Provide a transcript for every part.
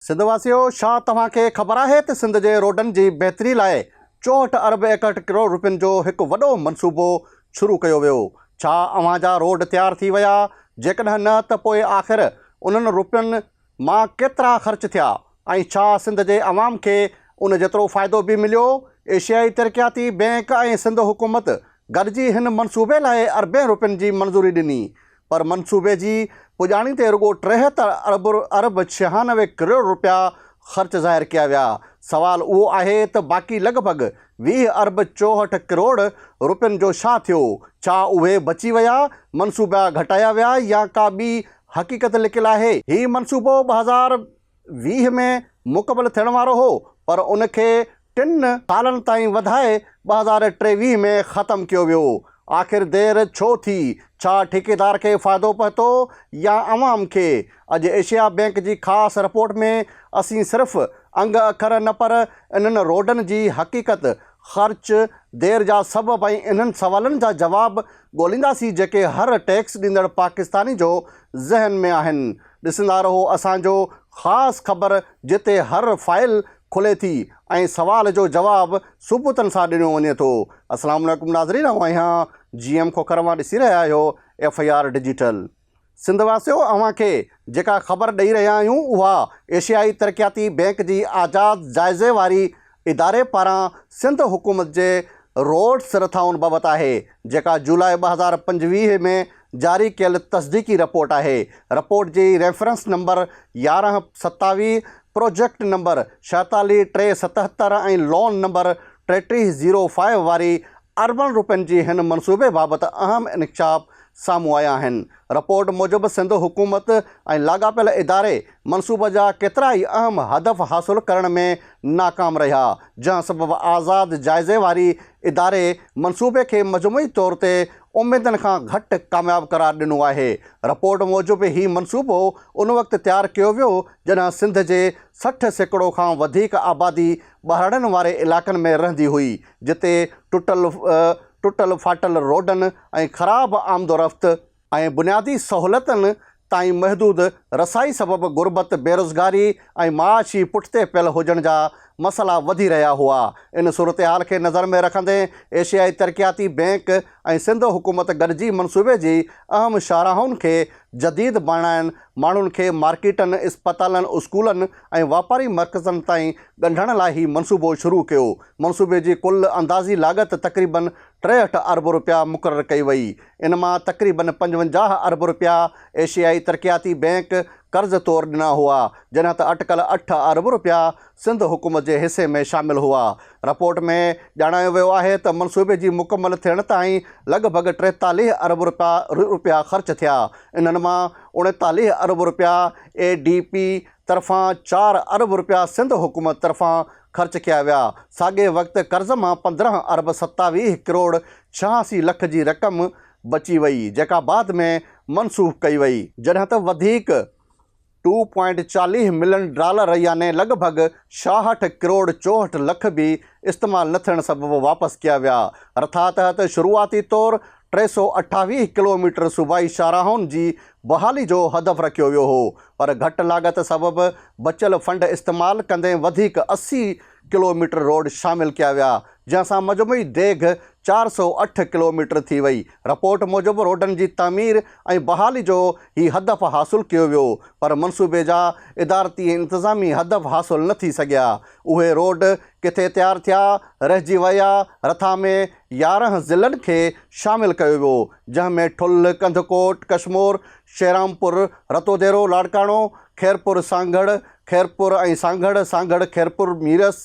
سنڌ واسيو ڇا توهان کي خبر آهي ته سنڌ جي روڊن جي بهتري لاء چوهٺ ارب ايڪهٺ ڪروڙ روپين جو هڪ وڏو منصوبو شروع ڪيو ويو ڇا اوهان جا روڊ تيار ٿي ويا جيڪڏهن نه ته پوء آخر انهن روپين مان ڪيترا خرچ ٿيا ۽ ڇا سنڌ جي عوام کي ان جيترو فائدو به مليو ايشيائي ترقياتي بينڪ ۽ سنڌ حڪومت گڏجي هن منصوبي لاء اربين روپين جي منظوري ڏني پر منصوبي جي پڄاڻي تي رڳو ٽيهتر ارب ڇهانوي ڪروڙ رپيا خرچ ظاهر ڪيا ويا، سوال اهو آهي ته باقي لڳ ڀڳ ويهه ارب چوهٺ ڪروڙ رپين جو ڇا ٿيو؟ ڇا اهي بچي ويا، منصوبا گهٽايا ويا يا ڪا ٻي حقيقت لڪيل آهي؟ هي منصوبو ٻه هزار ويهه ۾ مڪمل ٿيڻ وارو هو پر ان کي ٽن سالن تائين وڌائي ٻه هزار ٽيويهه ۾ ختم ڪيو ويو، آخر دير ڇو ٿي؟ ڇا ٺيڪيدار کي فائدو پهتو يا عوام کي؟ اڄ ايشيا بينڪ جي خاص رپورٽ ۾ اسين صرف انگ اکر نه پر انهن روڊن جي حقيقت، خرچ، دير جا سبب ۽ انهن سوالن جا جواب ڳولينداسين جيڪي هر ٽيڪس ڏيندڙ پاڪستاني جو ذهن ۾ آهن. ڏسندا رهو اسان جو خاص خبر جتي هر فائل کلي ٿي ۽ سوال جو جواب ثبوتن سان ڏنو وڃي ٿو. السلام عليڪم ناظرين اوهان اهيان جي ايم کوکر مان ڏسي رهيا آهيو F I R digital. Sindh واسيو اوهان کي جيڪا خبر ڏئي رهيا آهيون اها ايشيائي ترقياتي بينڪ جي آزاد جائزي واري اداري پاران سنڌ حڪومت جي روڊز رٿائن بابت آهي، جيڪا جولاء ٻه هزار پنجويهه ۾ جاري ڪيل تصديقي رپورٽ آهي. رپورٽ جي ريفرنس نمبر يارهن ستاويهه، پروجيڪٽ نمبر ڇهيتاليهه ٽي ستهتر ۽ لون نمبر ٽيٽيهه زيرو فائيو واري اربن روپين جي هن منصوبي بابت اهم انڪشاف سامهون آيا آهن. رپورٽ موجب سنڌ حڪومت ۽ لاڳاپيل اداري منصوبه جا ڪيترا ئي اهم هدف حاصل ڪرڻ ۾ ناڪام رهيا، جنهن سبب آزاد جائزي واري اداري منصوبي کي مجموعي طور تي اميدن کان گهٽ ڪامياب قرار ڏنو آهي. رپورٽ موجب هي منصوبو ان وقت تيار ڪيو ويو جڏهن سنڌ جي سٺ سيڪڙو کان وڌيڪ آبادي ٻهراڙين واري علائقن ۾ رهندي هئي جتي ٽٽل ٽٽل ڦاٽل روڊن ۽ خراب آمدورفت ۽ بنيادي سهولتن تائين محدود رسائي سبب غربت، بيروزگاري ۽ معاشي پٺتي پيل هجڻ جا مسئلا وڌي رهيا هئا. ان صورتحال کي نظر ۾ رکندي ايشيائي ترقياتي بئنڪ ۽ سنڌ حڪومت گڏجي منصوبي جي اهم شاهراهن کي جديد بڻائڻ، ماڻهن کي مارڪيٽن، اسپتالن، اسڪولن ۽ واپاري مرڪزن تائين ڳنڍڻ لاء هي منصوبو شروع ڪيو. منصوبي جي ڪل اندازي لاڳت تقريبن ٽيهٺ ارب رپيا مقرر ڪئي وئي. ان مان تقريبن پنجونجاهه ارب رپيا ايشيائي ترقياتي بئنڪ قرض طور ڏنا هئا، جڏهن ته اٽڪل اٺ ارب رپيا سنڌ حڪومت جي حصي ۾ شامل هئا. رپورٽ ۾ ڄاڻايو ويو آهي ته منصوبي جي مڪمل ٿيڻ تائين لڳ ڀڳ ٽيتاليهه ارب رپيا خرچ ٿيا، انهن مان اڻيتاليهه ارب رپيا اي ڊي پي طرفان، چار ارب رپيا سنڌ حڪومت طرفان خرچ ڪيا ويا، ساڳئي وقت قرض مان پندرهن ارب ستاويهه ڪروڙ ڇهاسي لک جي رقم بچي وئي جيڪا بعد ۾ منسوخ ڪئي وئي جڏهن ته وڌيڪ ٽو پوائنٽ چاليهه ملين ڊالر يعني لڳ ڀڳ ڇاهٺ ڪروڙ چوهٺ لک به استعمال نه ٿيڻ سبب واپس ڪيا ويا رٿا تحت شروعاتي طور ٽي سؤ اٺاويهه ڪلوميٽر صوبائي شاهراهن جي بحالي جو هدف رکيو ويو هو پر گهٽ لاڳت سبب بچيل فنڊ استعمال ڪندي وڌيڪ اسي ڪلوميٽر روڊ شامل ڪيا ويا، جنهن سان مجموعي ڊيگهه چار سؤ اٺ ڪلوميٽر ٿي وئي. رپورٽ موجب روڊن جي تعمير ۽ بحالي جو هي هدف حاصل ڪيو ويو، پر منصوبي جا ادارتي ۽ انتظامي هدف حاصل نه ٿي سگهيا. اهي روڊ ڪٿي تيار ٿيا، رهجي ويا، رٿا ۾ يارهن ضلعن کي شامل ڪيو ويو، جنهن ۾ ٺل، ڪنڌڪوٽ، ڪشمور، شيرامپور، رتوديرو، لاڙڪاڻو، خيرپور، سانگهڙ، خيرپور ۽ سانگهڙ، سانگهڙ خيرپور ميرس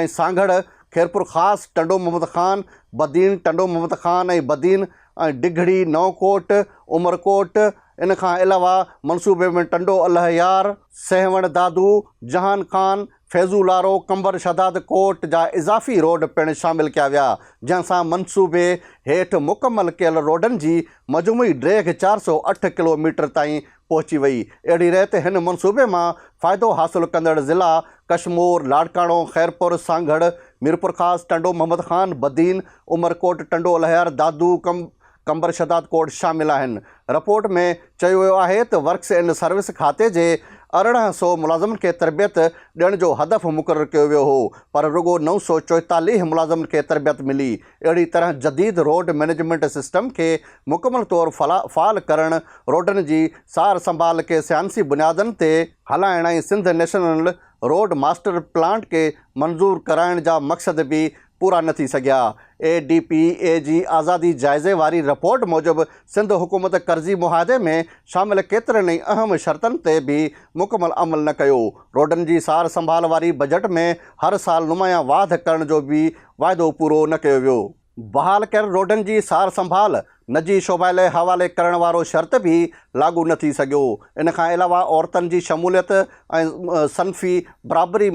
۽ سانگهڙ خيرپور خاص، ٽنڊو محمد خان، بدين، ٽنڊو محمد خان ۽ بدين ۽ ڊگهڙي، نئونڪوٽ، عمرڪوٽ، ان کان علاوه منصوبي ۾ ٽنڊو الهيار، سيوهڻ دادو، جهان خان، فيضو لارو، قنبر شهداد ڪوٽ جا اضافي روڊ پڻ شامل ڪيا ويا، جنهن سان منصوبي هيٺ مڪمل ڪيل روڊن جي مجموعي ڊيگهه چار سؤ اٺ ڪلوميٽر تائين پهچي وئي. اهڙي ريت هن منصوبي مان فائدو حاصل ڪندڙ ضلع ڪشمور، لاڙڪاڻو، خيرپور، سانگهڙ، ميرپورخاص، ٽنڊو محمد خان، بدين، عمرڪوٽ، ٽنڊو الهيار، دادو، قمبر شهداد ڪوٽ شامل آهن. رپورٽ ۾ چيو ويو آهي ته ورڪس اينڊ سروس کاتي جي ارڙهن سؤ ملازمن کي تربيت ڏيڻ جو هدف مقرر ڪيو ويو هو پر رڳو نو سؤ چوئيتاليهه ملازمن کي تربيت ملي اهڙي طرح جديد روڊ مئنيجمينٽ سسٽم کي مڪمل طور فعال ڪرڻ، روڊن جي سار سنڀال کي سائنسي بنيادن تي هلائڻ ۽ Sindh national road master plant کي منظور ڪرائڻ جا مقصد به پورا نه ٿي سگهيا. اي ڊي پي اي جي آزادي جائزي واري رپورٽ موجب سنڌ حڪومت قرضي معاهدي ۾ شامل ڪيترن ئي اهم شرطن تي به مڪمل عمل نه ڪيو، روڊن جي سار سنڀال واري بجيٽ ۾ هر سال نمايان واڌ ڪرڻ جو به واعدو پورو نه ڪيو ويو. بحال ڪيل روڊن جي سار سنڀال نجي شعبه لئه حوالي ڪرڻ وارو شرط به لاڳو نه ٿي سگهيو. ان کان علاوه عورتن جي شموليت ۽ صنفي برابري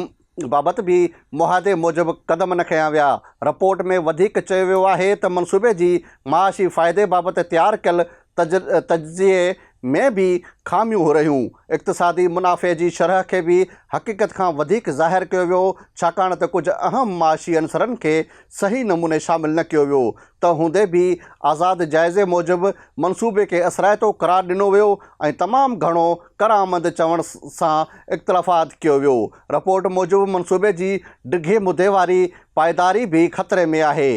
بابت به معاهدي موجب قدم نه کنيا ويا. رپورٽ ۾ وڌيڪ چيو ويو آهي ته منصوبي جي معاشي فائدي بابت تيار ڪيل تجزيي ۾ به خاميون هورهيون. اقتصادي منافعي جي شرح کي به حقيقت کان وڌيڪ ظاهر ڪيو ويو، ڇاڪاڻ ته ڪجهه اهم معاشي عنصرن کي صحيح نموني شامل نه ڪيو ويو. تنهن هوندي به آزاد جائزي موجب منصوبي کي اثرائتو قرار ڏنو ويو ۽ تمام گهڻو ڪرآمد چوڻ سان اختلافات ڪيو ويو. رپورٽ موجب منصوبي جي ڊگهي مدي واري پائيداري به خطري ۾ آهي.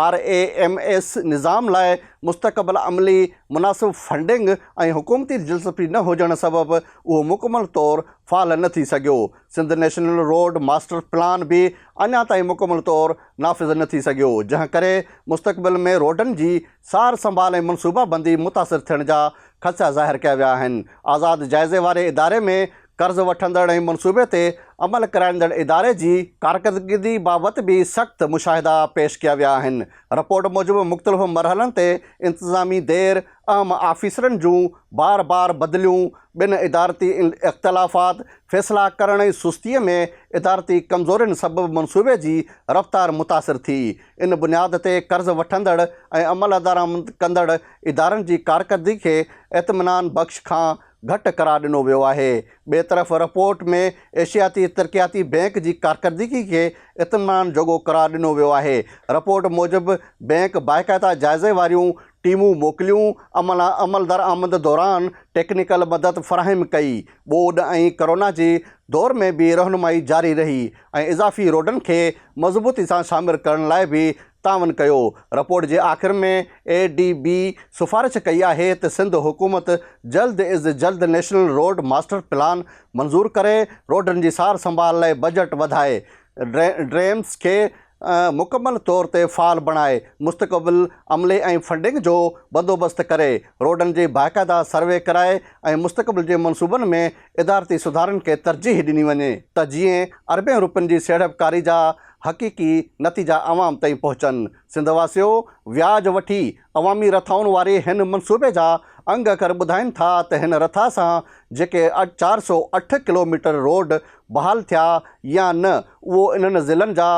آر اي ايم ايس نظام لاء مستقبل عملي مناسب فنڊنگ ۽ حڪومتي دلچسپي نه هجڻ سبب اهو مڪمل طور فعال نه ٿي سگهيو. Sindh national road master plan به اڃا تائين مڪمل طور نافذ نه ٿي سگهيو، جنهن ڪري مستقبل ۾ روڊن جي سار سنڀال ۽ منصوبابندي متاثر ٿيڻ جا خدشا ظاهر ڪيا ويا آهن. آزاد جائزي واري اداري ۾ قرض وٺندڙ ۽ منصوبي تي عمل ڪرائيندڙ اداري جي ڪارڪردگي بابت به سخت مشاهدا پيش ڪيا ويا آهن. رپورٽ موجب مختلف مرحلن تي انتظامي دير، اهم آفيسرن جون بار بار بدليون، بن ادارتي اختلافات، فيصلا ڪرڻ ۽ سستيء ۾ ادارتي ڪمزورين سبب منصوبي جي رفتار متاثر ٿي. ان بنياد تي قرض وٺندڙ ۽ عملدرآمد ڪندڙ ادارن جي ڪارڪردگي کي اطمينان بخش کان گهٽ قرار ڏنو ويو آهي. ٻئي طرف رپورٽ ۾ ايشياتي ترقياتي بئنڪ جي ڪارڪردگي کي اطمينان جوڳو قرار ڏنو ويو آهي. رپورٽ موجب بئنڪ باقاعده جائزي واريون ٽيمون موڪليون، عملا عمل درآمد دوران ٽيڪنيڪل مدد فراهم ڪئي، ٻوڏ ۽ ڪرونا جي دور ۾ به رهنمائي جاري رهي ۽ اضافي روڊن کي مضبوطي سان شامر ڪرڻ لاء به تعاون ڪيو. رپورٽ جي آخر ۾ اي ڊي بي سفارش ڪئي آهي ته سنڌ حڪومت جلد از جلد نيشنل روڊ ماسٽر پلان منظور ڪري، روڊن جي سار سنڀال لاء بجيٽ وڌائي، ڊيمز کي مڪمل طور تي فعال بڻائي، مستقبل عملي ۽ فنڊنگ جو بندوبست ڪري، روڊن جي باقاعده سروي ڪرائي ۽ مستقبل جي منصوبن ۾ ادارتي سڌارن کي ترجيح ڏني وڃي ته جيئن اربين روپين جي سيڙپڪاري جا حقيقي نتيجا عوام تائين پهچن. سنڌ واسيو وياج وٺي عوامي رٿائن واري هن منصوبي جا انگ اکر ٻڌائين ٿا ته هن رٿا سان جيڪي چار سؤ اٺ ڪلوميٽر روڊ بحال ٿيا يا نه اهو انهن ضلعن جا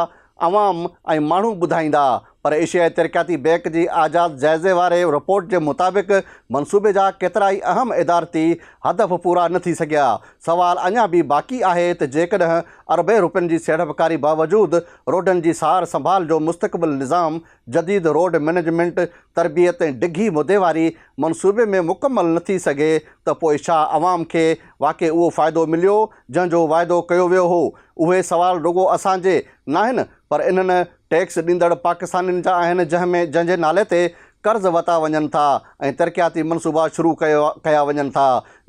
عوام ۽ ماڻهو ٻڌائيندا پر ايشيائي ترقياتي بينڪ جي آزاد جائزي واري رپورٽ جي مطابق منصوبي جا ڪيترائي اهم ادارتي هدف پورا نه ٿي سگهيا، سوال اڃا به باقي آهي ته جيڪڏهن اربين روپين جي سيڙپڪاري باوجود روڊن جي سار سنڀال جو مستقبل نظام جديد روڊ مئنيجمينٽ تربيت ۽ ڊگهي مدي واري منصوبي ۾ مڪمل نه ٿي سگهي ته پوء ڇا عوام کي واقعي اهو فائدو مليو جنهن جو واعدو ڪيو ويو هو اهي سوال رڳو اسان جي ناهن پر انهن ٽيڪس ڏيندڙ پاڪستانين جا آهن جنهن ۾ جنهن جي نالي تي قرض وتا وڃن ٿا ۽ ترقياتي منصوبا شروع ڪيو ڪيا وڃن ٿا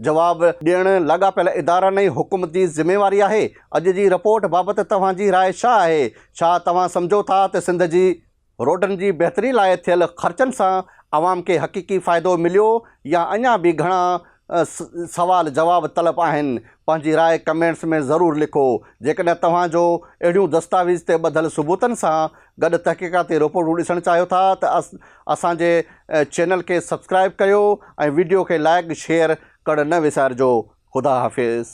جواب ڏيڻ لاڳاپيل ادارن ۽ حڪومت جي ذميواري آهي اڄ جي رپورٽ بابت توهان جي راء ڇا آهي ڇا توهان سمجهو ٿا ته سنڌ جي روڊن جي بهتري لاء ٿيل خرچن سان عوام کي حقيقي فائدو مليو يا اڃا به گهڻا سوال جواب طلب آهن پنهنجي راء ڪمينٽس ۾ ضرور لکو جيڪڏهن توهان جو اهڙيون دستاويز تي ٻڌل ثبوتن سان گڏ تحقيقاتي رپورٽون ڏسڻ چاهيو ٿا ته اسان جي چينل کي سبسڪرائب ڪيو ۽ وڊيو کي لائڪ شيئر ڪرڻ نه وسارجو خدا حافظ.